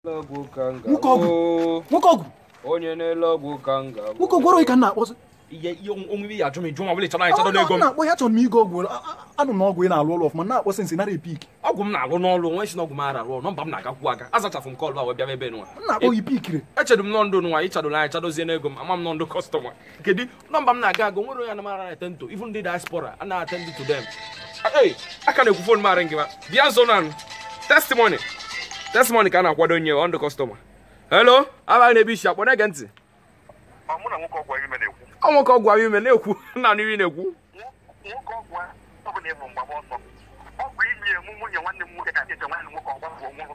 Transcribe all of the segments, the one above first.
ọgwụ ka m Nwoke ọgwụ. ga-abụ. nwoke ọgwụ onye na-ele ọgwụ ka m ga-abụ. nwoke ọgwụ ọrụ ka m na-akpọzi ihe ihe onwe ibe ya ajụ m ịjụ ma ọ bụla ịchọrọ anyị chọrọ n'ego m na-akpọ ya chọrọ m ịgọ ọgwụ a- a- anụ na ọgwụ ị na-alụ ọlụ ọfụma na-akpọ since ị nara epick ọgwụ m na-alụ n'ọlụ nwa ị sị na ọgwụ m ara arụ ọrụ nọmba m na-agakwu aga azachafụ m call a wee bịaba ebe nwa m na-akpọ ya i pickiri echedụ m nọ ndụ nwa ịchadụla anyị chadozie n'ego m ama m nọ ndụ customer kedu nọmba m na-aga aga o nwere onye anamara attend to even ndị diaspora a na-attend to them Hey, a ka na-ekwu fon m aringịba bịa nso na-anụ testimony testimony ka a na-akwado nye ọ ndị customer hello abaghị n'ebe i si akpọ na-ege ntị ma mụ na nwoke ọgwụ ime na-ekwu ọ nwoke ọgwụ ahụ ime na-ekwu nna n'ihe na-ekwu nwoke ọgwụ ọ bụla ịbụ mgbaba ọsọ ọ bụ iyi emu nwunye nwanne m nwoke ka eche nwanne m nwoke ọgwụ bụ nwụrụ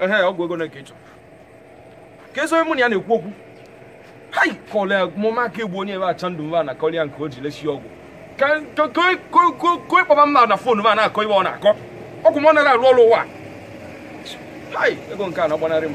ehe ọgwụ ego nke ị chọ kezi onye mụ na ya na-ekwu okwu hai kọlịa mụma ka egbu onye ebe acha ndụ mba na kọlịa nke o ji lesi ọgwụ ka ka- ka- ka- ka- ka ị kpọba m na fon ma na-akọ ibe ọ na-akọ ọgwụ m ọ naghị arụ ọrụ nwa hai ego nke a na-agbanarị m